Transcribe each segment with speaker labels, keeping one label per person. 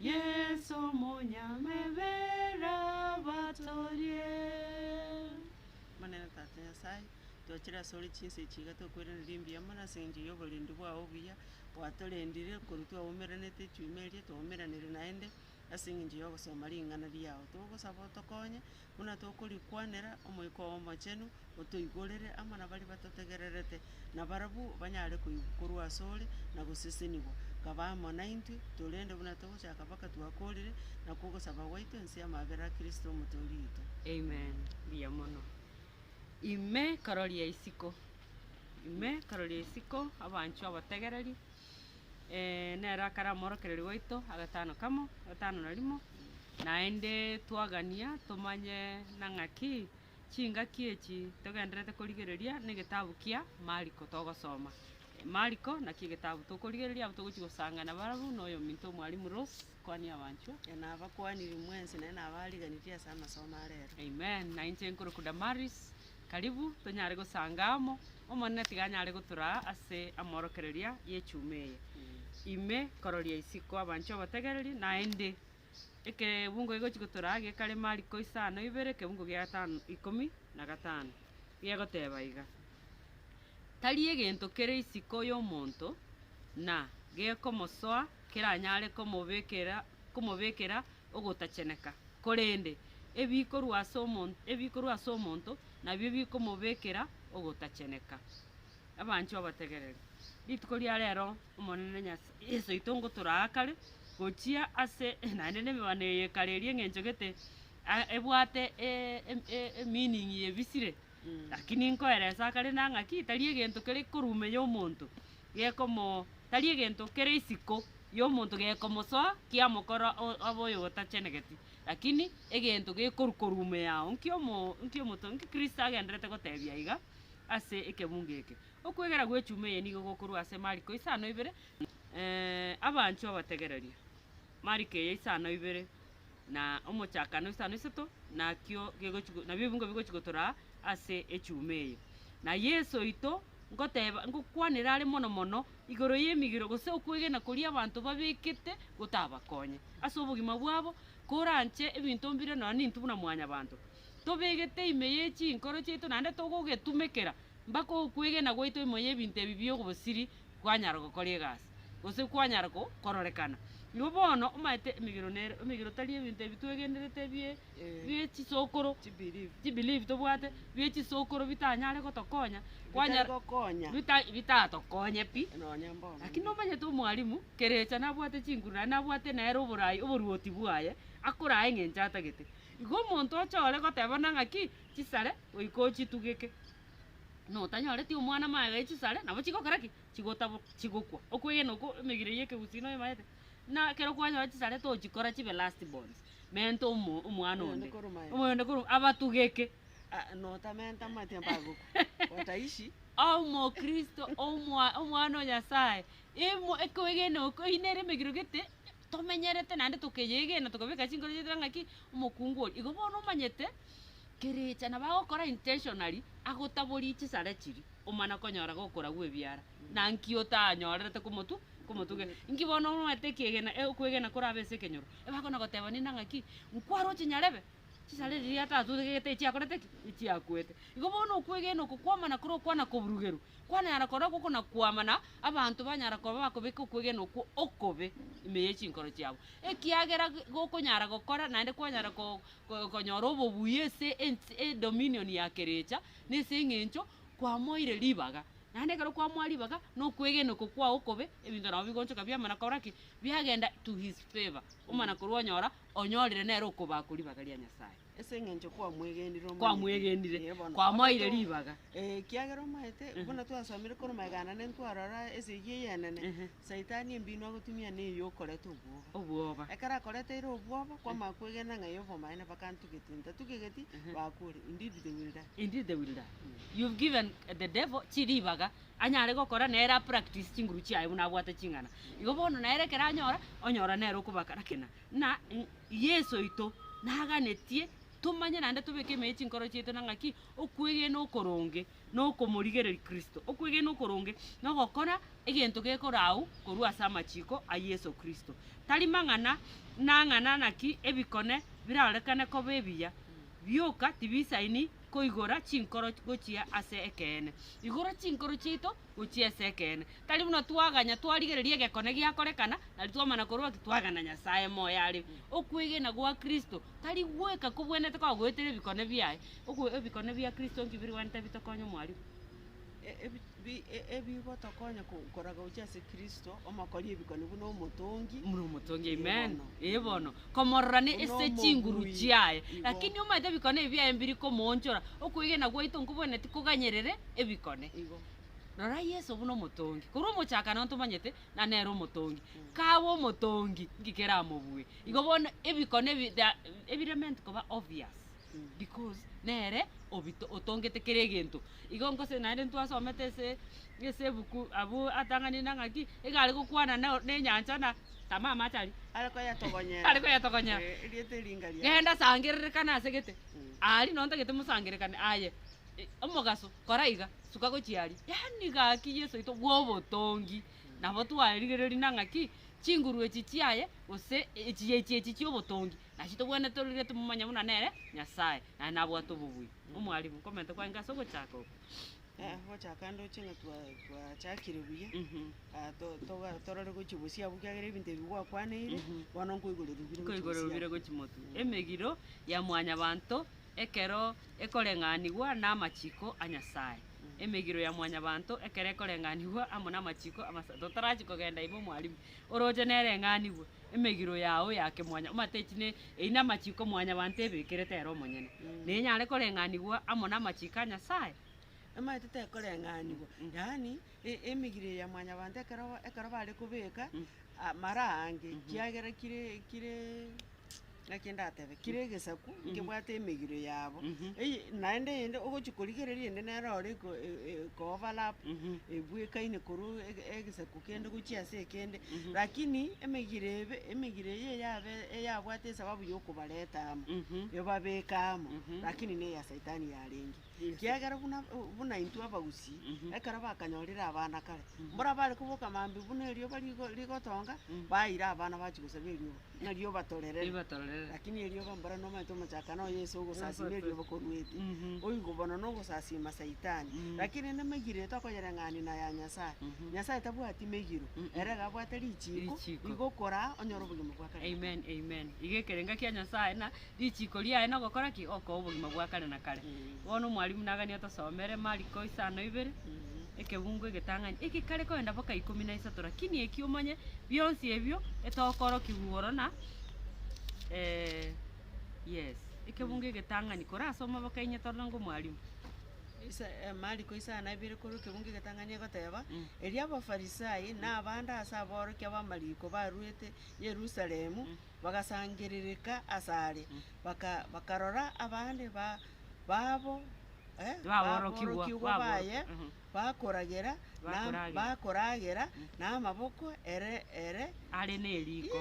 Speaker 1: Yeso omonyamebe rabatorie.
Speaker 2: Omonene Tata Nyasae, twachiire asore chinsa echi iga tokwerenera mbuya mono ase engencho y'oborendi bwao obuya, gwatorendire korwa twaumeranete echiume eria, twaumeranire naende ase engencho y'ogosoma ring'ana riao. Togosaba otokonye Buna tokorikwanera, Omoika Omochenu otoigorere amo nabaria batotegererete, na barabwo banyare koigwa korwa asore na gosesenigwa. Kaba amo naintwe, torende buna togochaka mpaka twakoorire, nakwo ogosaba gwaito inse y'amabera a Kristo Omotoori oito. Amen.
Speaker 1: Mbuya mono. Ime karoria isiko. Ime karoria isiko, abanchwa abategereri. nere akare omworokereri oito agatano kamo, gatano na rimo, naende twagania tomanye na ng'aki chingaki echi togendererete korigereria na egetabu kia Mariko togosoma. Mariko naki egetabu tokorigereria abwo togochia gosangana barabwo na oyominto Mwalimu Rose. Kwani abanchwa, na nabakwaniri
Speaker 2: mwensi, naende nabariganirie ase amasomo a reero. Amen. Na inche
Speaker 1: nkorokwa Damaris, karibu tonyare gosanga amo, Omonene tiga anyare gotoraa ase amorokereria y'echuma eye. Ime kororia isiko abanchwa abategereri, naende ekebungo gegochia gotoraa gekare mariko isano ibere, ekebungo gia gatano ikomi na gatano, gegoteba iga, Tari egento kere isiko y'omonto, na gekomosoa, keranyare komobekera komobekera ogotacheneka, korende ebikorwa ase omon ebikorwa ase omonto nabio bikomobekera ogotacheneka. Abanchwa abategereri, rituko ria rero Omonene Nyas Yeso oito ngotoraakare gochia ase naende nemebano eye ekare eria eng'encho gete a ebwate e e e e meaning ye ebisire. Lakini nkoeresa akare na ng'aki, tari egento kere ikorume y'omonto gekomo tari egento kere isiko y'omonto gekomosoa kiamokora o- abe oyotachenegeti, lakini egento gekorwa korume yao. Nki omo nki omoto nki Kristo agendererete gotebia iga ase ekebungo eke? Okwegera gw'echuma eye nigo gokorwa ase Mariko isano ibere, Abanchwa abategereria. Mariko eye isano ibere na omochakano isano isato nakio gegochi go nabio ebingo bigochi gotoraa ase echuma eye. Na Yeso oito ngoteeba ngokwanera are mono mono igoro y'emigiro gose okwegena koria abanto babekete gotabakonye ase obogima bwabo koranche ebinto mbire nonya nintu buna mwanyabanto tobegete ime ye chinkoro chiaito naende togogetumekera mpaka okwegena gwaito imo y'ebinto ebi bi'obosiri kwanyara gokora egasi, gose kwanyara ko, kororekana. Igo bono omaete emegiro nere, emegiro tari ebinto ebi twegenderete bie, bie chisokoro, chibelief tobwate, bie chisokoro bitanyare gotokonya, kwanyara, Bitagokonya. bita bitatokonye pi, Nonya mbono. lakini nomanyete omwalimu, kerecha nabwate chinguru naende nabwate nere oborai oboruoti bwaye, akoraa eng'encho atagete. Igo omonto oche ore goteba buna ng'aki, chisare goika ochitugeke. notanyoreti omwana amaega e chisare, nabo chigokora ki? Chigotabwa, chigokwa. Okwegena okwo emegire ya ekegusii noyo emaete. Na ekero kwanyora chisare tochikora chibe last borns, menta omo omwana Oyonde onde, korwa maega. oyonde korwa maega, abatugeke. Ah, notamenta
Speaker 2: amatia mpagokwa. Wataishi. Omokristo
Speaker 1: omwa omwana o Nyasaye, emo ekwegena oko eyio nere emegiro gete tomenyerete naende tokeyegena tokabeka chinkoro chiaito ng'a ki, omokungu oria. Igo bono omanyete. Kerecha na bagokora intentionally agotaborie chisare chiria omana konyora gokora gwe biara na nki otanyorerete komotu komotuge nki bono omanyete ekiegena e okwegena korabe ase ekenyoro ebakona goteba ninde ng'aki nkware ochinyarebe chisare riria atatugegete echiakorete ki echiakuete igo bono okwegena oko kwamana kore okwana koburugerwa kwanayara kora gokona kwama na abanto banyara koba bakobeka okwegena okwo okobe ime ya chinkoro chiabo ekiagera gokonyara gokora naende kwanyara ko. konyora obobuya ase edominion ya kerecha, na ase eng'encho kwamoeire ribaga. Naende ekero kwamoa ribaga, na okwegena oko kwao okobe, ebinto nabo bigoonchoka biamana kora ki? Biagenda to his favour, omana korwa onyora onyorire nere okobaa ko ribaga ria Nyasaye. Ase eng'encho
Speaker 2: kwamwegenire omanyete. Kwamwegenire, Ee
Speaker 1: bono. kwamoeire Ogoto- ribaga. Ekiagera omanyete,
Speaker 2: buna twasomire korwa magega anane ntwarora esegi ey'enene, Saitani embino agotumia neye okoreta obwoba. Obwoba. Ekero
Speaker 1: akoreteire
Speaker 2: obwoba, kwamanya kwegena ng'a eye obomaene bakantugeti, ntatugegeti, bakwore, indeed they will die.
Speaker 1: Indeed they will die. You've given the devil chiribaga anyare gokora nere a practice chinguru chiaye buna abwate ching'ana. Igo bono nere ekero anyora, onyora nere okobakarakena. Ng'a Yeso oito naganetie tomanye naende tobeke ime ye chinkoro chiaito na ng'aki okwegena okoronge nokomorigereria Kristo. Okwegena okoronge nogokora egento gekorau korwa ase amachiko a Yeso Kristo, tari mang'ana nang'ana naki ebikone birarorekane koba ebiya, bioka tibisaini koigora chinkoro gochia ase ekeene. Igora chinkoro chiaito gochia ase ekeene. Tari buna twaganya twarigereria egekone giakorekana nari twamana korwa ki twagena Nyasae moyo are. Okwegena gwa Kristo tari gweka kobwenerete kogoetera ebikone biaye. Ogo ebikone bia Kristo nki birigwenerete bitokonye omwarimu?
Speaker 2: Ebigotokonya koraga gochia ase Kristo, omokori ebikone buna omotongi. Buna omotongi,
Speaker 1: amen. Ee bono, komororane Buna ase chinguru omogui. chiaye. Igo. Lakini omanyete ebikone ebi biaye mbiri komoonchora, okwegena gwaito nkobwenereti koganyerere ebikone. Igo. Rora Yeso buna omotongi. Korwa omochakano ntomanyete, na nere omotongi. Kaba omotongi, nki keramobue? Igo bono ebikone ebi they are, ebiremeant koba obvious. Because nere obito otongete kera egento. Igo ngose naende ntwasomete ase ase ebuku abwo atanganire na ng'aki, iga are gokwana na nenyancha na tama amache aria. Are koyetogonyera.
Speaker 2: Are koyetogonyera. Eh, erieta eri ngari ase. Genda sangererekana
Speaker 1: ase gete. Aria nonye ntagete mosangerekane aye. I- Omogaso, kora iga, suka gochia aria. Yaani gaki Yeso oito bwa obotongi, nabo twarigereria na ng'aki, chinguru echi chiaye, gose echiya echi echi chia obotongi. Naki tobwenerete tororigwe timomanya buna nere Nyasae, naende nabwate obobui. Omwalimu, nkomenta kwange ase ogochaka oko. Eh, gochaka
Speaker 2: ndoche ng'a twa twachakire buya, ah, to- toga- torore gochia bosia abwo ekiagera ebinto ebi gwakwaneire, bono nkoigoreria bire gochia Nkoigoreria bosia
Speaker 1: bire abwo. gochia motwe. Emegiro ya mwanyabanto ekero ekoreng'anigwa namachiko a Nyasae. Emegiro ya mwanyabanto ekero ekoreng'anigwa amo namachiko amasa. Totarachia kogenda ime omwalimu, oroche nereng'anigwe. emegiro yao ya kemwanya omatechi ne eyio namachiko mwanyabanto ebekerete ere omonyene, na enyare koreng'anigwa amo namachiko a Nyasaye. Emaete
Speaker 2: tekoreng'anigwa, yaani e- emegiro eye ya mwanyabanto ekero ekero bare kobeka amara aange, kiagera kire kire. Naki ndatebe, kera egesaku nkebwate emegiro yabo, eye naende eyende ogochia korigereria ende nere ore ko- e- e- ko-overlap, ebwekaine korwa ege- egesaku kende gochia ase ekende, lakini emegiro ebe, emegiro eye eyabe eyabwate esababu yokobareta amo, ebabeke amo, lakini neya saitani yarenge. Ekiagera buna buna intwe abagusii, ekero bakanyorire abana kare, mborabare koboka mambia buna erioba rigo rigotonga, baeire abana bachia gosaba erioba, ng'a rioba torerere. Ribatorerere. Lakini erioba mbora nomanyete omochaka noyo Yeso ogosasima erioba koruete, oigo bono nogosasima saitani. Lakini rende emegiro eye tokoyereng'ania na ya Nyasaye, Nyasaye tabwati megiro, ere iga abwate richiiko, Richiiko. rigokoraa onyore obogima bwa kare na kare. Amen, amen. Iga
Speaker 1: ekerenga kia Nyasaye na. Richiiko riaye nogokora ki? Okoa obogima bwa kare na kare. Bono omwalimu naganie otosomere Mariko isano ibere, ekebungo egetang'ani eke kare koenda boka ikomi na isato rakini eki omanye bionsi ebio etokorokigwa igoro na yes ekebungo egetang'ani korasoma boka inye torore ngo mwalimu. Isa
Speaker 2: Mariko isano na ibere korwa ekebungo egetang'ani egoteba, Erio Abafarisai na abande ase aborokia b'amariko barwete Yerusalemu bagasangerereka asare, bakarora abande babo
Speaker 1: aborokigwa baye
Speaker 2: bakoragera namaboko ere
Speaker 1: are
Speaker 2: neriko,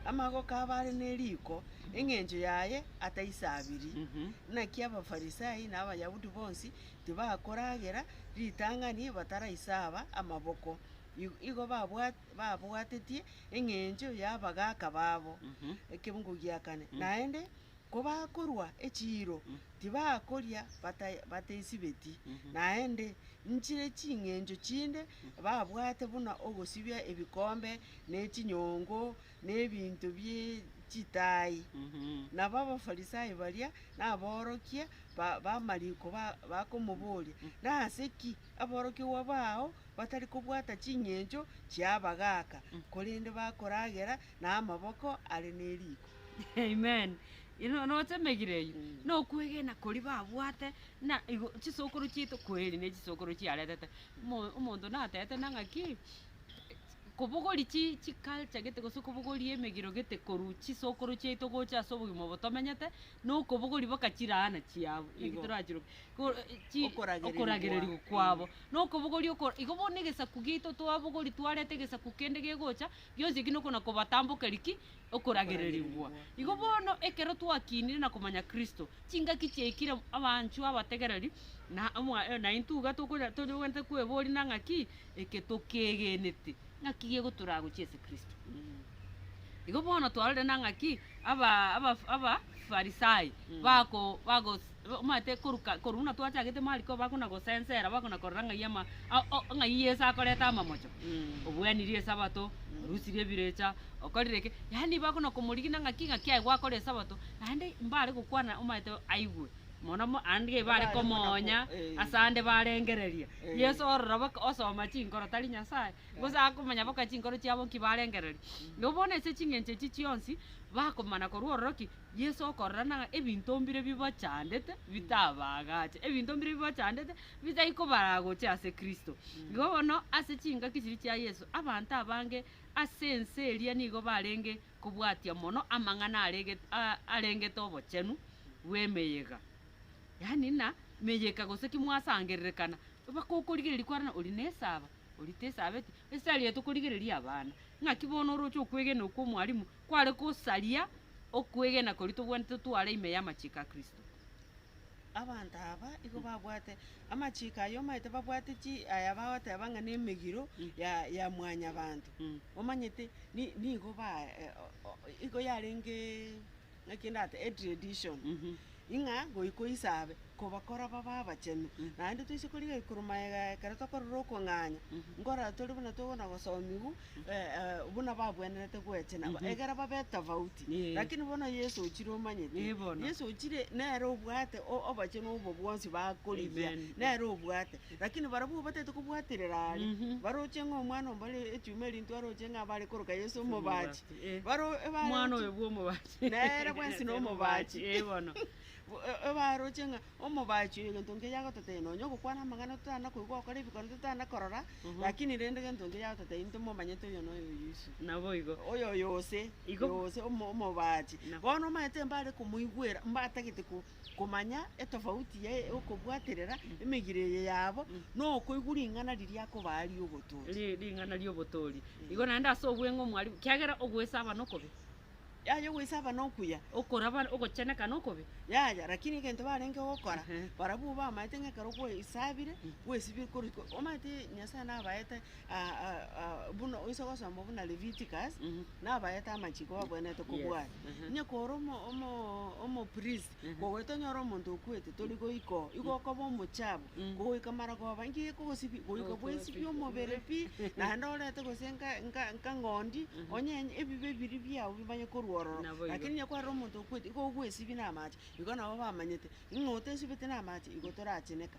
Speaker 2: amagoko abe are neriko, engencho yaye ataisabiri. Naki Abafarisai na Abayahudi bonsi tibakoragera ritang'ani bataraisaba amaboko, igo babwatetie eng'encho y'abagaaka babo ekeungu gia kane. Naende kobakorua echiiro tibakoria bataisibeti, naende nchire ching'encho chinde babwate buna ogosibia ebikombe, ne chinyongo, nebinto bie chitaai. Nabo Abafarisai baria naborokia b'amariko bakomoboria, Nase ki aborokigwa bao batari kobwata ching'encho chi'abagaaka, korende bakoragera namaboko are neriko? Amen.
Speaker 1: Notemegire eyio nokwegena koria babwate na igo chisokoro chiaito kweri ne chisokoro chiaretete. Omonto natete nang'aki. Kobogoria chi chiculture gete gose kobogoria emegiro gete korwa chisokoro chiaito gocha ase obogima obo tomenyete, na okobogoria boka chiraana chiabo, eki Igo. torachiroke, ko chi Okoragereria okoragereria kwa- kwabo. Na okobogoria oko igo bono egesaku giaito twabogoria twareta egesaku kende gegocha, gionsi eki nokona kobatambokeria ki? okoragererigwa. Igo bono, ekero twakinire na komanya Kristo, chingaki chiaikire abanchwa abategereri, na naintwe iga togwenerete kweboria na ng'aki eke tokegenete ng'aki gegotoragochia ase Kristo. Igo bono twarorire na ng'aki Abafarisai bago. Omanyete koruka korwa buna twachagete mariko bakona gosensera bakona korora ng'ai ama ng'ai Yeso akoreta amamocho, obwenirie esabato, orusirie ebirecha, okorire ki, yaani bakona komorigina ng'aki ng'aki aye gwakora esabato, naende mbare gokwana omanyete aigwe mono mo ande iga ebare komoonya ase ande barengereria Yeso ororo baka osoma chinkoro tari Nyasaye, gose akomanya baka chinkoro chiabo nki barengereria. Nabo bono ase ching'encho echi chionsi bakomana korwa ororo ki, Yeso okorora ng'a ebinto mbire bibachandete bitabaagache, ebinto mbire bibachandete bitai kobaragoche ase Kristo. Igo bono ase chingaki chiria chia Yeso, abanto abange ase ense eria nigo barenge kobwatia mono amang'ana aregete a- arengete obochenu bw'emeyega. Yaani na meyeka gose ki mwasangererekana, bakokorigereria kwarana oria na esaba, oria tesabeti, esari eye tokorigereria abana, ng'aki bono oroche okwegena okw'omwalimu. kware gosaria okwegena koria tobwanete tware ime y'amachiko a Kristo.
Speaker 2: Abanto aba igo babwate amachiko aya omanyete babwate chi aya bagoteba ng'a nemegiro ya ya mwanyabanto. Omanyete ni- nigo ba- e- o- o- igo yarenge ng'aki ndate etredition. Ing'a goika Isa abe kobakora babe abachenu, naende toise korigia igoro magega ekero tokorora okong'anya, nkorora tori buna togokwana gosomigwa buna babwenerete gwechena, egera babe etofauti. Lakini bono Yeso ochire omanyete, Yeso ochire nere obwate obachenu obo bwonsi bakorigia, nere obwate. Lakini barabwo obatagete kobwaterera aria, baroche ng'a omwana ombare echuma erintwe aroche ng'a bare koroka Yeso omobache.
Speaker 1: Nere bwensi
Speaker 2: nomobaachi. Ee bono.
Speaker 1: Obaroche
Speaker 2: ng'a omobaachi oyo egento nkeya agototeebia, nonya ogokwana amang'ana totana koigwa, ogokora ebikorwa totana korora, lakini rende egento nkeya agototeebia ntomomanyete oyo noyo oyo iso. Naboigo. Oyoyo
Speaker 1: ose,
Speaker 2: Igo. ose omo- omobaachi. Nabo. Bono omanyete mbare komoigwera, mbatagete ko- komanya etofauti yaye okobwaterera emegire eye yabo, na okoigwa ring'ana riria akobaa ri'obotooti. Ri- ring'ana ri'obotoori.
Speaker 1: Igo naende ase obweng'u mwarimu, kiagera ogoesabana okobe. Yaya ogweisaba
Speaker 2: nokuya. Okoraba ogocheneka
Speaker 1: nokobe. Yaya, rakini egento
Speaker 2: barenge gokora, barabwo bamaete ng'a ekero gweisabire, gwesibire korwa iko. Omanyete Nyasaye nabaete buna oise ogosoma buna Leviticus, nabaete amachiko babwenerete kobwata. Onye kore omo- omo- omopriest, Kogoeta onyore omonto okwete, tori goika oo, igo okoba omochabu, kogoika mara koba inki gekogosibia, goika bwesibie omobere pi, naende orete gose nka- nka- nkang'ondi, onyenye ebibe biria biao bimanye korwa ororo. Naboigo. Lakini onye kwarera omonto okwete, igo ogwesibia na amache, igo nabo bamanyete, ng'a otesibeti na amache, igo toracheneka.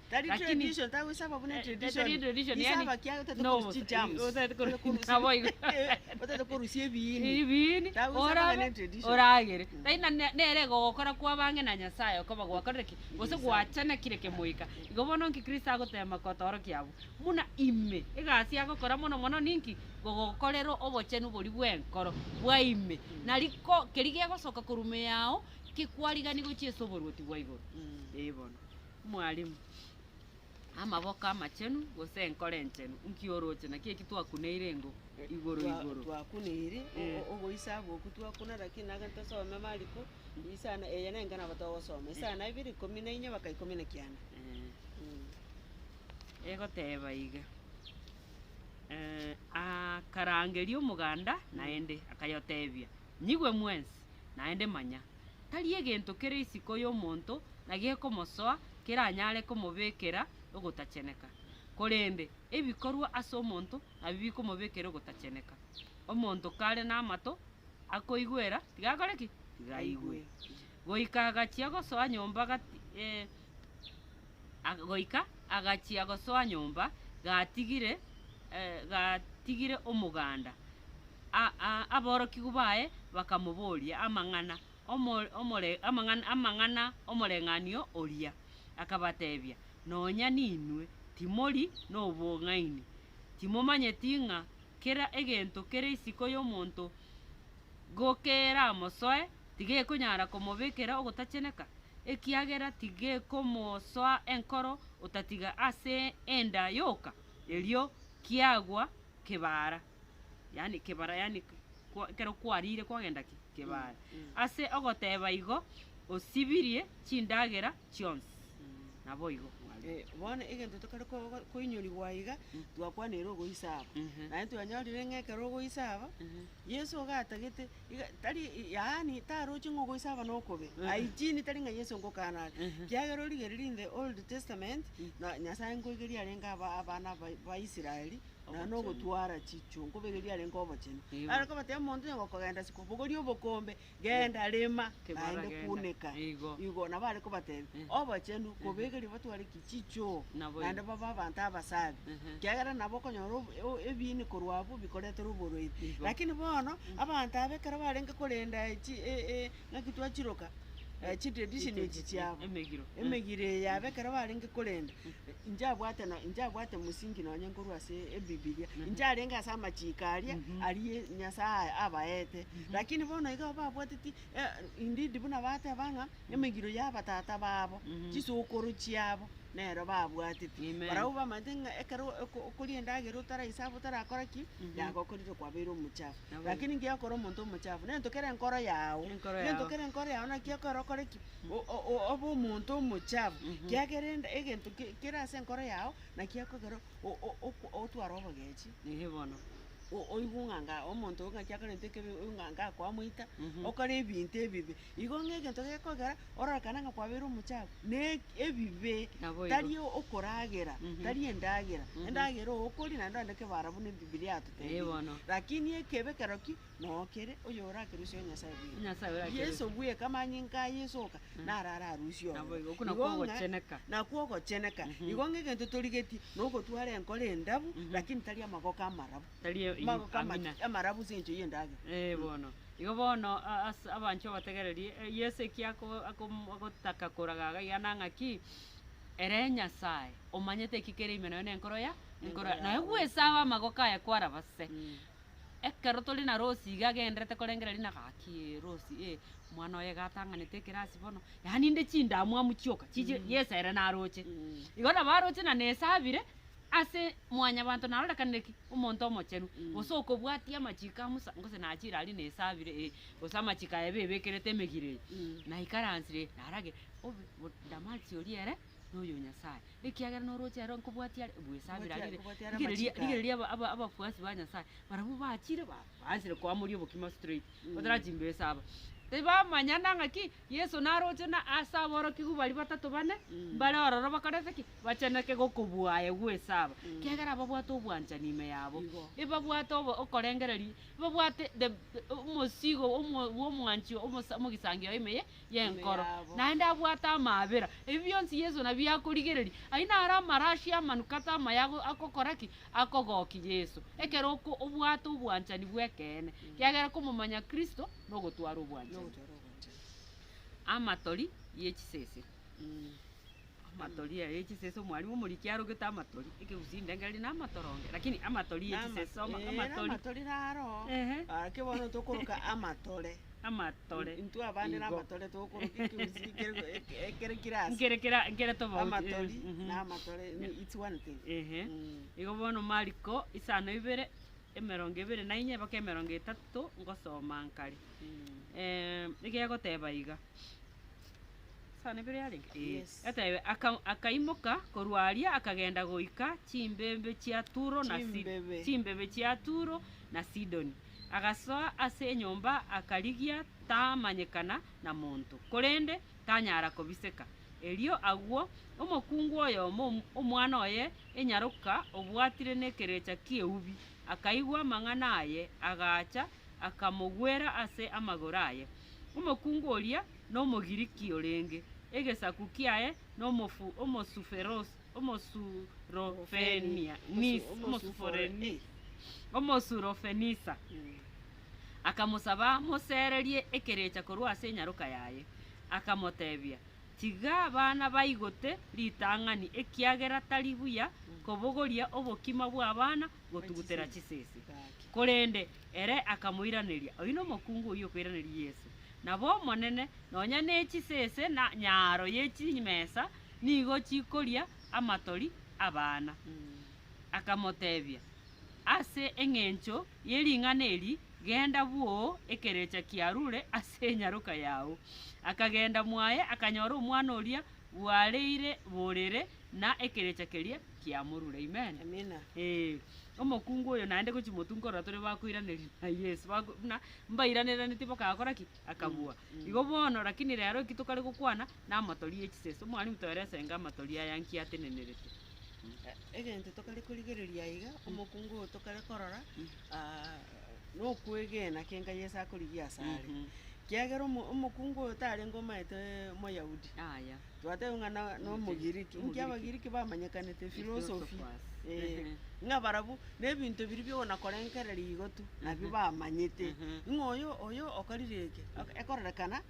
Speaker 2: Tari Lakini- tradition, tagoisaba buna Eh, tradition. tari tradition, Isaba yani- kiaye otagete No, korusia chigerms. otagete koru- Otagete nabo korusia- igo. Eh, otagete korusia ebiini. Ebiini, Tabu sana orabe, bana tradition.
Speaker 1: oragere. Mm. Lakini na- na- nere gogokora kwabange na Nyasaye okoba gwakorire ki? Gose Gwaisaba. gwachanekire kemoika. Igo bono inki Kristo agotema kotorokia abwo? Buna ime, egasi agokora mono mono ninki? Gogokorera obochenu boria bw'enkoro, bwa ime. Nari ko- keria gegosoka korwa ime yao, ki kwarigani gochia ase oboruoti bwa igoro. Mm. Eh bono. Mwalimu, amaboko amachenu, gose enkoro enchenu, nki oroche? Naki eki twakuneire engo igoro Twa- igoro. twakuneiri
Speaker 2: o- Eh. o- ogoisa goku twakuna lakini nagende tosome mariko isana eye nengena nabo togosoma isana ibere ikomi na inya baka ikomi na kianda
Speaker 1: Eh,
Speaker 2: Mm. egoteba
Speaker 1: iga, eh, akarangeria omoganda naende akayotebia, Nyigwe mwensi, naende manya, Tari egento kere isiko y'omonto na gekomosoa keranyare komobekera ogotacheneka, korende ebikorwa ase omonto nabio bikomobekera ogotacheneka. Omonto kare namato akoigwera, tigakore ki? Tigaigwe. Goika agachia gosoa nyomba gati, eh. ag, goika agachia gosoa nyomba, gatigire, eh, gatigire omoganda. A, a, aborokigwa baye bakamoboria amang'ana omo, omore, amang'ana, amang'ana omoreng'anio oria. Akabatebia, Nonya ninwe timori nobong'aini? Timomanyeti ng'a kera egento kere isiko y'omonto gokeeramosoe Tigekonyara komobekera ogotacheneka, ekiagera tigekomosoa enkoro otatiga ase enda yoka, erio kiagwa kebara, yaani kebara yaani kwa ekero kwarire kwagenda ki? Kebara. Ase ogoteba igo osibirie chindagera chionsi. Naboigo mwabire. Eh, bono egento
Speaker 2: tokare ko- ko- koinyorigwa iga, twakwana ere ogoisaba. Naende twanyorire ng'a ekero ogoisaba. Yeso iga atagete, iga tari, yaani taroche ng'a ogoisaba nokobe, I gene tari ng'a Yeso ngokaana are, ekiagera origereria in the old testament, na Nyasae nkoigeria arenge aba- abana ba- Baisraeli, naende Obochenu. nogotwara chichunko, baigeria arenge obochenu. Igo. Are kobatebia omonto onye gokogenda sikwa, bogoria obokombe, Genda, rema, naende kuneka. Igo nabo are kobatebia, Obochenu kobegerie batware ki? Chichoo, naende babe abanto abasaabi, ekiagera nabo okonyora ebiini korwa abwo bikoretera oborwaire. Lakini bono abanto aba ekero barenge korenda ng'aki twachiroka, chitradition echi chiabo, emegiro eye yabo ekero barenge korenda, inche abwate no- inche abwate mosingi nonye nkorwa ase ebibilia, inche arenge ase amachiiko aria, aria Nyasaye abaete, Lakini bono iga babwateti, e, indeed buna bateba ng'a emegiro y'abatata babo, chisokoro chiabo nero babwateti. Amen. Barabwo bamanyete ng'a ekero oko- okoria endagera otaraisabe otarakora ki, yagokorire kwabeire omochafu. Naboigo. Lakini ngiya okore omonto omochafu, nento kere enkoro yao. Enkoro Nento yao. kere enkoro yao naki ekore okore ki? O- o- o- obe omonto omochafu. Kiagera ende- egento ki- kere ase enkoro yao, naki ekogera o- o- okw- otware obogechi. Ehe bono.
Speaker 1: o- oigwe ng'a
Speaker 2: anga omonto oyo ng'aki akarenta ekebi, oyo ng'a anga kwamoita, okore ebinto ebibe. Igo ng'a egento gekogera ororekane ng'a kwabeire omochafu, na eki- ebibe, Naboigo. tari okoragera, tari endagera, endagera oo okoria naende onde kebara buna Ebibilia Ee, yatotebirie. bono. Rakini ekebe kero ki? Noo kere oyo orakerusie Nyasae bweka. Nyasae orakerusie. Yeso bweka, amanyinga a Yeso oka. naro ararusie Nabo ororo. igo, okwo nakwo ng'a- ogocheneka. nakwo ogocheneka. Igo ng'a egento torigetie, nogotwara enkoro endabu, lakini tari amagoko amarabu. Tari e- Amagoko ama- amina. amarabu ase engencho y'endagera. Eh, bono. Igo
Speaker 1: bono a- ase abanchwa bategererie, eh, Yeso eki ako- akom- agotaka koraga iga iga nang'a ki, ere Nyasae, omanyete eki kere ime naye nenkoro ya, enkoro ya, Enkoro ya naye Nyasae. bwesabe amagoko aye kwarabase. Ekero tore na Rosi iga agenderete korengera Lina, gaki ee Rosi ee, omwana oye iga atang'anete ekerasi bono, yaani inde chindamwamu chioka chichire yes ere naroche. Igo nabo aroche na nesabire ase mwanyabanto narorekanire ki? Omonto omochenu, gose okobwatia amachiko a Musa, gose nachire aria nesabire ee, gose amachiko aye bebekerete emegiro eye, naikaransire ee, naro agende obe bo Damasi oria ere. noyo Nyasae, ekiagera norooche ere nkobwatia are bwesabire Bwatia are aria kobwatia are rigereria amachiko aye. rigereria aba- aba- abafuasi ba Nyasae barabwo bachire ba- baansire koamoria obokima straight batara chimbesa aba. Tibamanya na ng'aki Yeso naroche na ase aborokigwa baria batato bane mbare ororo bakorete ki? Bacheneke gokobua aye gwesaba kiagera ababwate obwanchani ime yabo. Igo. Ebabwate obo- okorengereria, ebabwate the- the omosigo omo- bw'omwanchio omosa- omogisangio ime ye y'enkoro, naende abwate amaabera. Ebi bionsi Yeso nabio akorigereria. Ayio naro amarashi amanukato amaya agokora ki? Akogokia Yeso. Ekero oko obwate obwanchani bw'ekeene, kiagera komomanya Kristo nogotwara obwanchani. Amatori ye chisese. Amatori aye chisese omwalimu omoriki arogete amatori ekegusii indenge riri namatoronge lakini amatori ye chisese soma Ee, amatori namatori
Speaker 2: naro Ehe. gaki bono tokoroka amatore amatore intwe abande igo. namatore togokoroka ekegusii kere- eke- ekere kirasi nkere kera nkere tofauti
Speaker 1: amatori eh, mhm.
Speaker 2: namatore ni- its one thing Ehe. Mm. Igo
Speaker 1: bono mariko isano ibere emerongo ebere na inye mpaka emerongo etato ngosoma nkare. Ekegoteba iga. Sawa nebere yarenge? Yes. Atebe, aka, akaimoka korwa aria akagenda goika chimbebe chia Turo na Si- Chimbebe. chimbebe chia Turo na Sidoni. Agasoa ase enyomba akarigia tamanyekana na monto, korende tanyara kobiseka. Erio agwo omokungu oyomo om- omwana oye enyaroka obwatire nekerecha ki'eubi akaigwa amang'ana aye, agacha akamogwera ase amagoro aye. Omokungu oria n'Omogiriki orenge, egesaku kiaye n'Omosurofenisa, akamosaba amoseererie ekerecha korwa ase enyaroka yaye, akamoteebia, Tiga abana baigote ritang'ani, ekiagera tari buya kobogoria obokima bw'abana gotugutera chisese. Korende ere akamoiraneria, Oyio nomokungu oyio okoiraneria Yesu, nabo Omonene, nonya ne chisese na nyaaro ye chimesa nigo chikoria amatori 'abana. Akamotebia, Ase engencho ye ring'ana eri, genda bwoo ekerecha kiarure ase enyaroka yao. Akagenda mwaye akanyora omwana oria Bwareire borere na ekerecha keria kiamorure. Amen. Amina. Ee,
Speaker 2: omokungu
Speaker 1: oyo naende gochi motunkorora tore bakoiraneria na Yesu, bako- buna mbairaneraneti bakagora ki? Akabua. Igo bono, rakini rero eki tokare gokwana, namatori ye chisese. Omwalimu toerese enga amatori aya nki atenenerete. Egento
Speaker 2: tokare korigereria aiga, omokungu oyo tokare korora, ah, nokwegena kianga Yeso akorigia asare. Mhm. Kiagera omokungu oyo tarenge omanyete Omoyahudi, twatebia
Speaker 1: ng'a
Speaker 2: n'Omogiriki, inki Abagiriki bamanyekanete? Efilosofi, ng'a barabwo nebinto biria biogonakorengereria igo tu nabio bamanyete. Ng'a oyo oyo okorire eke, ekorerekana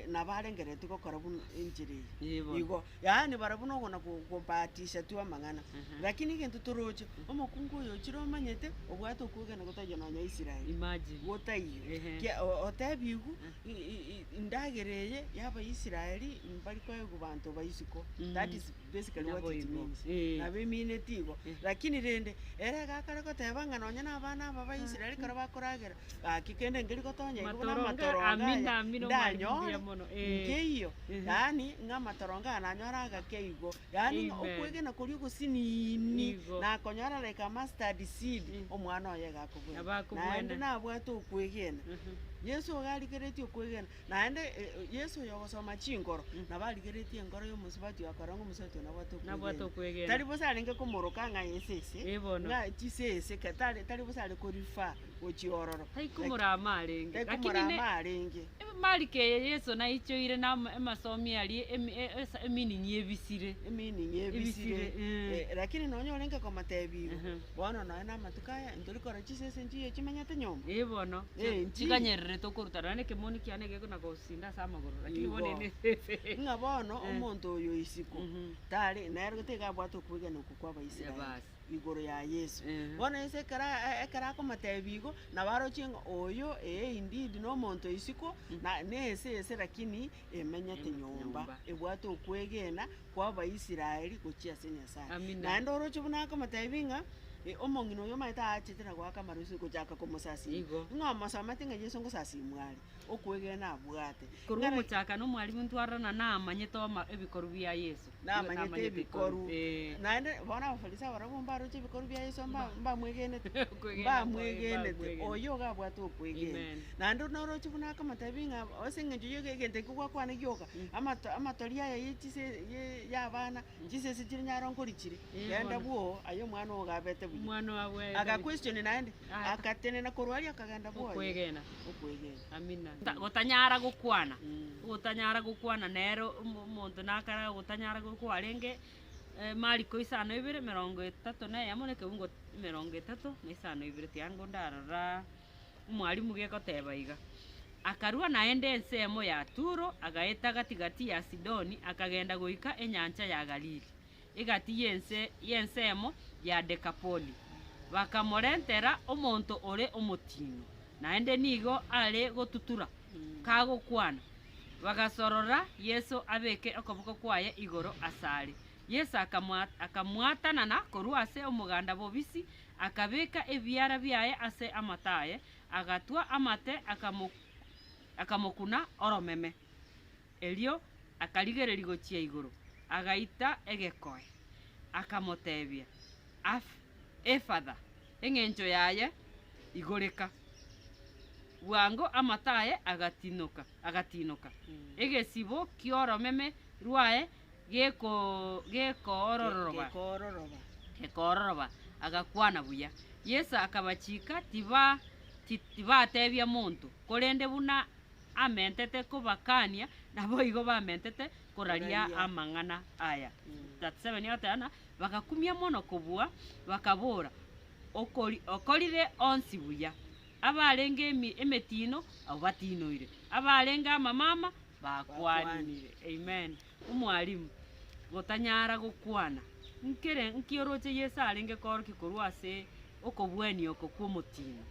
Speaker 2: nabo arengereretie gokora buna enchera eye. Igo. Yaani barabwo nogo na ko kobatisha tu amang'ana. Lakini egento toroche, omokungu oyo ochire omanyete, obwate okwegena gotaiyo nonya Israel. Imagine. Gotaiyo.
Speaker 1: Ehe. Kia o-
Speaker 2: otebigu i- i- i- indagera eye yaba Israeli mbari koegwa banto ba isiko. That is basically what Nabo it igo. means. Eh. Nabo emineti igo. Lakini rende, ere egakare goteba ng'a nonya na abana aba ba Israeli kare bakoragera, Gaki kende nkeri gotonya igoro na Amatoronge amatorongo aya amin na amin, omwalimu mbuya ndanyore
Speaker 1: mono, eh. nkeiyo,
Speaker 2: Ehe. yaani ng'a amatorongo aya nanyore agake igo, yaani ng'a Amen. okwegena koria ogosiniini Igo. nakonyora like a mustard seed, Mm. omwana oye iga akobwate. Nabo akobwate. Naende nabwate okwegena. Mhm. Yeso iga arigeretie okwegena, naende eh, eh, Yeso oyo ogosoma chinkoro, Mm. nabo arigeretie enkoro ya omosubati oyo akora ng'a omosubati oyo nabwate okwegena. Nabwate okwegena. Tari bosa arenge komoroka ng'a aye sese, Eh, bono. ng'a chisese, ke- tari tari bosa are ko-refer gochia ororo. Taiku Murama
Speaker 1: arenge. Taiku Murama arenge.
Speaker 2: Emariko eye
Speaker 1: Yeso naichoire na emasomi aria eminini ebisire. Eminini ebisire.
Speaker 2: Lakini nonya orenge komotebia igo, bono nonya na amatuko aya ntori korora chisese nchiya chimenyete nyomba. Ee bono. Ee nchiya.
Speaker 1: Chikanyererete okoruta nonya ekemoni kiane geko na gosinda ase amagoro. Lakini bono ere nesese. Ng'a bono
Speaker 2: omonto oyo isiko tari, nere tiga abwate okwegena okwo kwa Abaisraeli. igoro ya Yeso. Bono Yeso ekero ekero akomotebia igo, nabo aroche ng'a oyo ee indeed nomonto isiko, na nese ese lakini emenyete nyomba, ebwate okwegena kwa Abaisraeli gochia ase Nyasae. Amina. Naende oroche buna akomotebia ng'a omong'ina oyo omanyete aachete na goaka amaroso gochaka komosasima. Igo. Ng'a omosamate ng'a Yeso ngosasimwa are, okwegena abwate. Korwa Ng'ana- omochakano
Speaker 1: omwarimu ntwarorana namanyete oma ebikorwa bia Yeso. namanyete
Speaker 2: ebikoru. Eh. Naende bono Abafarisai barabwo mbaroche ebikoru bia Yeso mba- Mba. mbamwegenete, Okwegena kwaye, mbamwegenete, mbamwegenete. oyo iga abwate okwegena. Amen. Naende naroche buna akamotebia ng'a ase eng'encho ye- egento ekio gwakwana gioka, amato- amatori aya ye chise- ye- y'abana, chisese chire nyaro nkorichire, Eh, genda bono. bwoo, aye omwana ogo gabete buya. Omwana ogo abwate aga
Speaker 1: buya. question naende,
Speaker 2: Aka- agatenena korwa aria akagenda bwoye. Okwegena. Okwegena.
Speaker 1: gotanyara gokwana, gotanyara gokwana nere omonto nakare gotanyara kwarenge mariko isano ibere emerongo etato na eyemo na ekeungo emerongo etato na isano na ibere tiango ndarora omwalimu gekoteba iga. Akarua naende ensemo ya Turo, agaeta gati gati ya Sidoni, akagenda goika enyancha ya Galili. egati y'ense y'ensemo ya Dekapoli, bakamorentera omonto ore omotino, naende nigo are gotutura, kagokwana. Bagasorora Yeso abeke okoboko kwaye igoro asare. Yeso akamwatanana korwa ase omoganda bobisi, akabeka ebiara biaye ase amato aye, agatwa amate, akamokuna oromeme. Erio akarigereria gochia igoro, agaita egekoe, akamoteebia, Efatha, engencho yaye, Igoreka. Bwango amato aye agatiinoka, egesibo ki'oromeme rwaye gekoororoba, agakwana buya. Yeso akabachiika, tibateebia monto, korende buna amentete kobakania, naboigo bamentete koraria amang'ana aya. 37 Oteana bagakumia mono kobua, bakabora, Okori, okorire onsi buya. Abarenge emi- emetiino abwo batiinoire, abarenge amamama bakwanire. Amen. Omwalimu, gotanyara gokwana, nkere nki oroche Yeso arenge koorokia korwa ase okobuania oko kw'omotiino?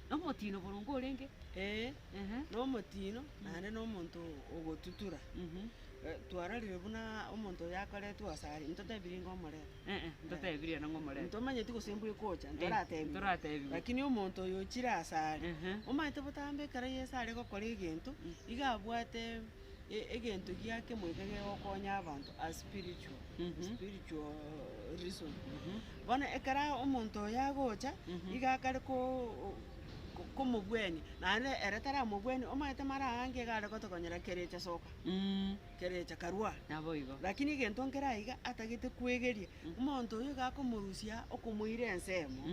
Speaker 1: Nomotino boronge orenge? Ee, Ehe.
Speaker 2: nomotino naende nomonto ogotutura. Mhm. Eh, Twarorire buna omonto oyo akoretwe asare, intotebiri inga omorero. Eh, eh, ntotebirie ere ng'omorero.
Speaker 1: Ntomanyeti gose mbwe
Speaker 2: ekocha, ntoratebiwe. ntoratebiwe. Lakini omonto oyo ochire asare, Ehe. omanyete botambe ekero Yeso are gokora egento, iga abwate. Egento gia kemoika gegokonya abanto as spiritual, spiritual reason. Bono ekero omonto oye agocha, igo akare ko- ko- komobwania, naende ere taramobwani, omanyete mara aange iga are gotokonyera kerecha soka, kerecha karwa. Naboigo. Lakini
Speaker 1: egento nkere
Speaker 2: aiga, atagete kwegeria. Omonto oyio iga akomorusia okomoira ensemo,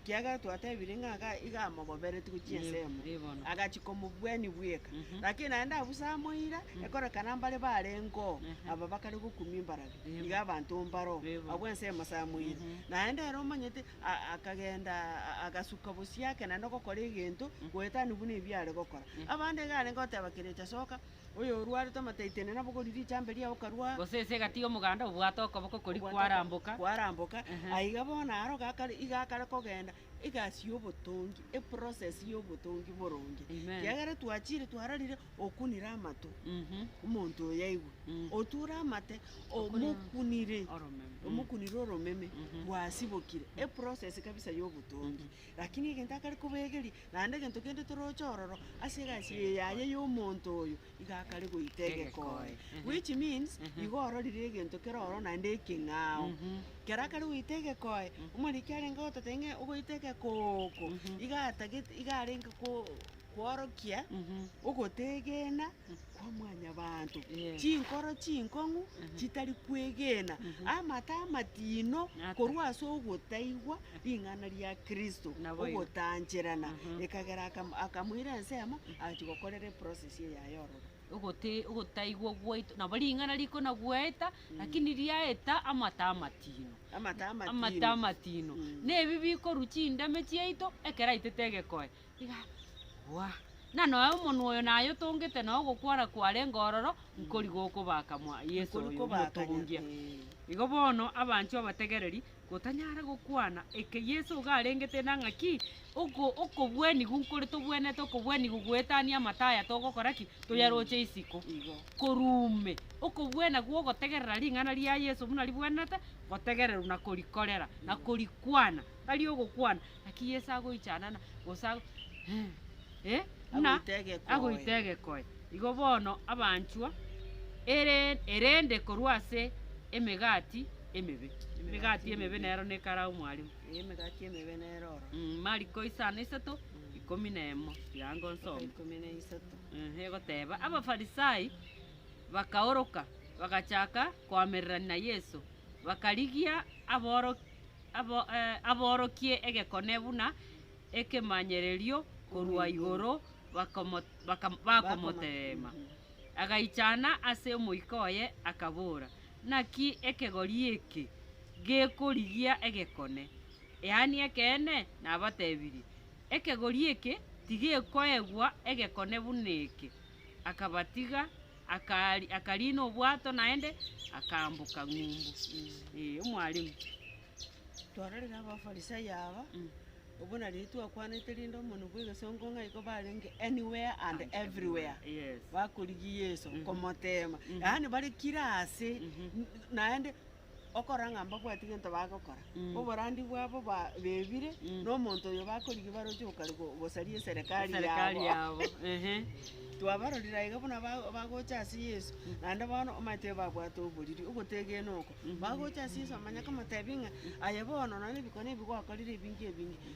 Speaker 2: ekiagera twatebire ng'a iga iga amogobereti gochia ensemo, agachia komobuania bweka. Lakini naende abwo ase amoira, ekorekana mbare barengeo aba bakare gokumia embarabi, iga abanto mbaro abwo ensemo ase amoira. Naende ere omanyete a- akagenda a- agasuka bosio ake naende ogokora egento goetania buna ebiare gokora. Abande iga arenge goteba kerecha soka. Oyorwarete omataitene nabogori richambe riao okarua. Gose ense egatiga omoganda
Speaker 1: obwate okoboko kori kwaramboka. Kwaramboka. Aiga bono aro gakare iga akare kogenda egasi yobotongi, eprocess yobotongi boronge. Amen. Kiagera twachire twararire okunire amato omonto oyo aigwe. Oture amate omokunire. Oromeme. Omokunire oromeme rwasibokire. Eprocess kabisa yobotongi. Lakini egento akare kobegeria Naende egento kende toroche ororo ase egasi eye yaye y'omonto oyo, iga akare goita egekoe. Which means, igo ororire egento kere ororo naende ekeng'ao. Ekero akare goita egekoe, omoriki arenge gototebia ng'a ogoita egekooko, iga atagete, iga arenge ko- koorokia ogoteegena. kwa Mwanyabaanto, chinkoro chinkong'u chitari kwegena, amato amatino korwa ase ogotaigwa ring'ana ria Kristo, ogotancherana, ekagera akam- akamoira ensemo agachia gokorera eprocess eye yaye ororo. Ogote- ogotaigwa gwaito nabo ring'ana rikona gwaeta, lakini riaeta amato amatino. Amato amatino. Amato amatino. Nebi bikorwa chindame chiaito, ekero aitete egekoe, Gwa, na noe omonwa oyo naye otongete na ogokwana kware ngororo, nkori gokobaka mwa Yeso Nkori oyo kobaka omotongia. Nyasae. Igo bono abanchwa abategereri, gotanyare gokwana eke Yeso iga arengete na ng'a ki, oko okobwenigu nkore tobwenete okobwenigu goetania amato aya togokora ki? Toyaroche isiko. Igo. Korwa ume, okobwena gwa ogotegerera ring'ana ria Yeso buna ribwenete gotegererwa na korikorera, na korikwana. Tari ogokwana, Naki Yeso agoichanana, gose buna agoita egekoe, igo bono abanchwa, erende korwa ase emegati emebe. Emegati emebe nero nekara omwarimu.
Speaker 2: Mariko isano
Speaker 1: isato ikomi na emo, tiga ango nsome.
Speaker 2: Egoteba,
Speaker 1: Abafarisai bakaoroka, bagachaka koamererania na Yeso, bakarigia aborokigwa. aborokie egekone buna ekemanyererio korwa igoro, bakomoteema. Agaichana ase omoika oye, akabora, Naki ekegori eke gekorigia egekone? Eani ekeene nabatebirie, Ekegori eke tigekoegwa egekone buna eke. Akabatiga, Akariina obwato naende, akaamboka ng'umbu. Ee, Omwalimu.
Speaker 2: Twarorire Abafarisai aba, obwo nari twakwanete rinde omonwe bw'egesongo ng'a igo barenge anywhere and everywhere, bakorigia Yeso, komoteema, yaani bare kira aase, naende okora ng'a mbabwati gento bagokora, oborandia
Speaker 1: bwabo ba-
Speaker 2: bebire, na omonto oyo
Speaker 1: bakorigia
Speaker 2: baroche gokari- go- gosaria eserekari eserekari yabo. yabo.
Speaker 1: Ehe. Twabarorire
Speaker 2: aiga buna ba- bagocha ase Yeso, naende bono omanyete babwate oboriri, ogotegena oko. Bagocha ase Yeso, amanyakamo, tebie ng'a, Aye bono, nonya nebikone ebi gwakorire ebinge ebinge.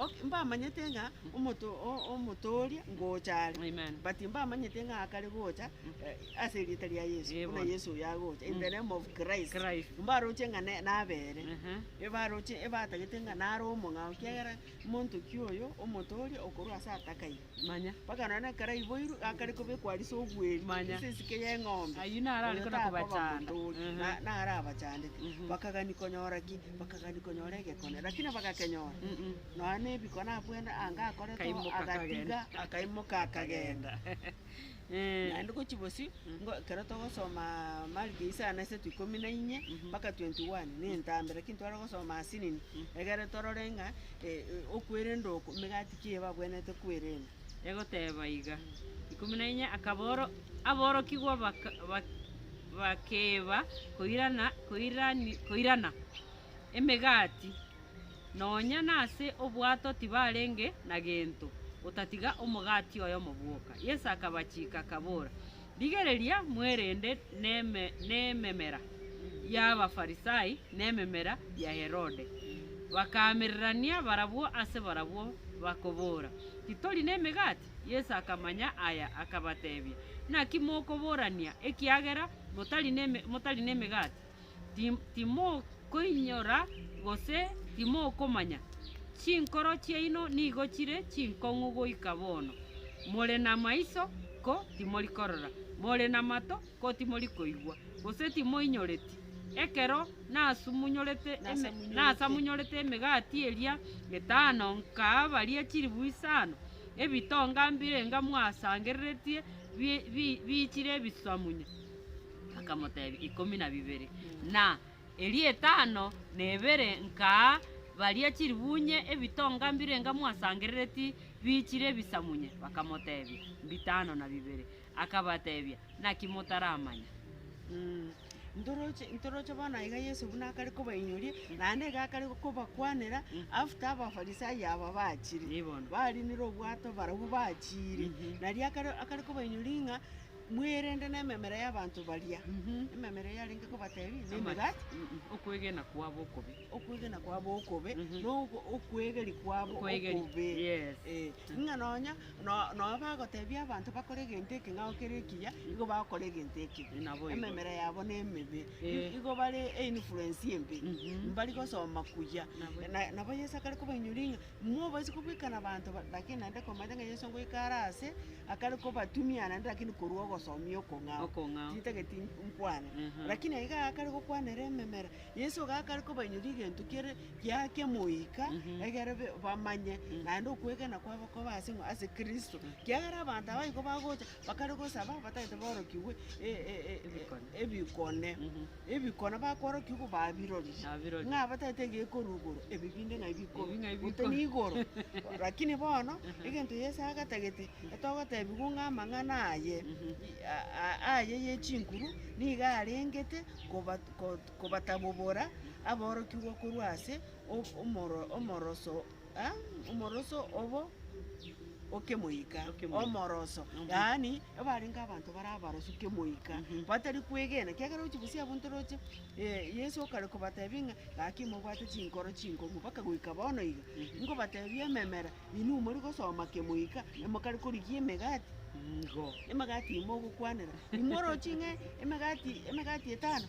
Speaker 2: Ok, mbamanyete ng'a omoto- o- omotooria ngocha are, Amen. but mbamanyete
Speaker 1: ng'a
Speaker 2: akare gocha eh, ase erieta ria Yeso, Yebo. buna Yeso oyo agocha, in the
Speaker 1: name
Speaker 2: of Christ. Christ. Mbaroche ng'a
Speaker 1: ne-
Speaker 2: nabere, Aha. ebaroche ebatagete ng'a nare omong'ao, kiagera monto ki oyo omotooria okorwa ase atakaire. mpaka nonya
Speaker 1: nekaraiboirwe
Speaker 2: gakare kobekwa arise obweri ase ensike
Speaker 1: y'eng'ombe,
Speaker 2: Ayio naro are oyo kona takoba
Speaker 1: kobachanda. motori, Ehe. na- naro
Speaker 2: abachandete. Mhm. Bakagani konyora ki? Bakagani konyora egekone, rakini bagakenyora. Mm-mm. Nonya nebikone abwo ende anga akorete oo, Akaimoka agatiga, akagenda. akaimoka akagenda. Naende gochia bosio, ngo ekero togosoma Mariko isano na isato ikomi na inye mpaka twenty one, na entambera, lakini tware gosoma ase nini, egere torore ng'a e- e- okwerenda oko, emegati ki eye babwenerete kwerenda. Egoteba iga,
Speaker 1: ikomi na inye, akaboro aborokigwa baka bak bakeba koirana koirani koirana emegati. Nonya nase obwato tibarenge na gento, otatiga omogati oyomo bwoka. Yeso akabachiika, akabora, Rigereria mwerende nememera y'Abafarisai na ememera ya Herode. Bakaamererania barabwo ase barabwo, bakobora, Titori nemegati? Yeso akamanya aya, akabatebia, Naki mokoborania, ekiagera motari nemegati? Timokoinyora gose timokomanya? Chinkoro chiaino nigo chire chinkong'u goika bono. More namaiso, ko timori korora? More namato, ko timori koigwa? Gose timoinyoreti? Ekero nasamunyorete emegati eria etano nkaa baria chilifu isano, ebitonga mbirenga mwasangereretie biichire ebisamunye? Akamotebia, Ikomi na bibere, na eria etano na ebere nkaa baria chiribuunye ebitonga mbirenga mwasangerereti biichire ebisamunye. Bakamotebia, Mbitano na bibere. Akabatebia, Naki motaramanya? Ntoroche
Speaker 2: ntoroche bono aiga Yeso buna akare kobainyoria, naende iga akare kobakwanera after Abafarisai aba bachire. Nibono. Barinire
Speaker 1: obwato
Speaker 2: barabwo bachire. Nario akare akare kobainyoria ng'a Mwerende nememera y'abanto baria, ememera eyarenge kobatebia nemegati, okwegena
Speaker 1: kwabo okobe, okwegena kwabo
Speaker 2: okobe, na okwegeri kwabo okobe,
Speaker 1: ng'a nonya
Speaker 2: nonya bagotebia abanto bakore egento eke ng'a kere ekiya, nigo bagokora egento eke, ememera yabo
Speaker 1: nemebe,
Speaker 2: nigo bare einfluence embe, mbari gosoma kuya. Nabo Yeso akare kobainyoria ng'a. Mobaisa kobwekana abanto ba-, lakini naende komanyete ng'a Yeso ngoika are aase, akare kobatumia naende lakini korwa ogosomia okong'ao, Okong'ao. tintageti nkwane. Aha. Lakini aye gakare gokwana ere ememera, Yeso gakare kobainyoria egento kiare giake moika, egere be- bamanye naende okwegena kwabo kobe ase ng'a ase Kristo. Kiagera abanto abwo igo bagocha, bakare gosaba batagete borokigwe e- e- e- e- Ebikone. ebikone. Ebikone bakwarokio igo babirorie, Nabirorie. ng'a abatagete egekoru igoro, ebi binde ng'ai bikoru, Ebi ng'ai gose bikoru. nigoro. Lakini bono, egento Yeso agatagete, etogotebiwu ng'a amang'ana aye, i- a- a- aye ye chinkuru, nigo arengete koba- ko- kobatabobora aborokigwa korwa ase o- omoro- omoroso Omoroso obo okemoika, omoroso, yaani ebarenge abanto bare abarosu kemoika, batari kwegena, ekiagera ochi bosi abwo ntoroche, Yeso okare kobatebia ng'a gaki mobwate chinkoro chinkongu mpaka goika bono iga, nkobatebia ememera, inwe mori gosoma kemoika, mokare korigia emegati, emegati imo ogokwanera, imwe oroche ng'a emegati emegati etano.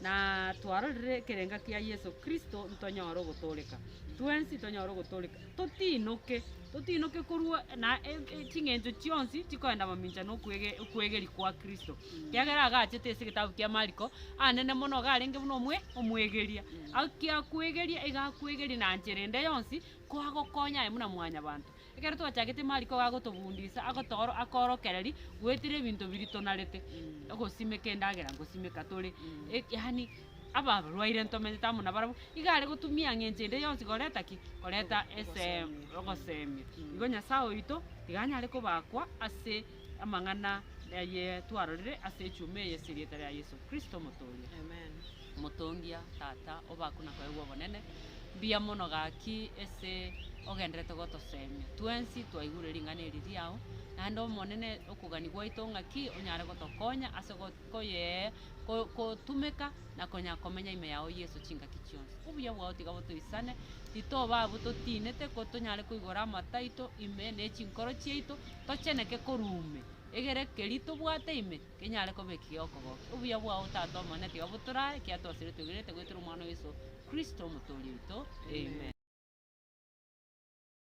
Speaker 1: Na twarorire ekerenga kia Yeso Kristo ntonyore ogotooreka. Twensi tonyore ogotooreka, totiinoke, totiinoke korwa na ching'encho chionsi chikoenda mamincha na okwegeria kwa Kristo. Kiagera agachete ase egetabu kia Mariko, anene mono iga arenge buna omwe omwegeria. Akia kwegeria iga akwegeria na nchera ende yonsi koagokonya aye buna mwanyabanto. Ekero twachagete mariko iga agotobundisa, agotooro akoorokereri goetera ebinto biria tonarete, ogosimeka endagera ngosimeka tore, eki yaani ababarwaire ntomenyete amo nabarabwo, iga are gotumia eng'encho ende yonsi koreta ki? Koreta ese ogosemia. Igo Nyasae oito, iga anyare kobakwa ase amang'ana aye twarorire ase echuma eye as'erieta ria Yeso Kristo, Omotooria.
Speaker 2: Omotongia,
Speaker 1: Tata, obaku na koegwa obonene, mbuya mono gaki ase ogenderete gotosemia. Twensi twaigure ring'ana eri riao, naende Omonene, okogania gwaito ng'aki onyare gotokonya ase go- koyee ko- kotumeka na konya komenya ime yao Yeso chingaki chionsi. Obuya bwao tiga botoisane, titoba abwo totiinete, ko tonyare koigora amato aito ime ne chinkoro chiaito, tocheneke korwa ume, egere keri tobwate ime, Kenyare koba ekiya okogokia obuya bwao Tata Omone, tiga botorae ekiya twasire twegenete goetera Omwana o Yeso Kristo, Omotooria oito. Amen.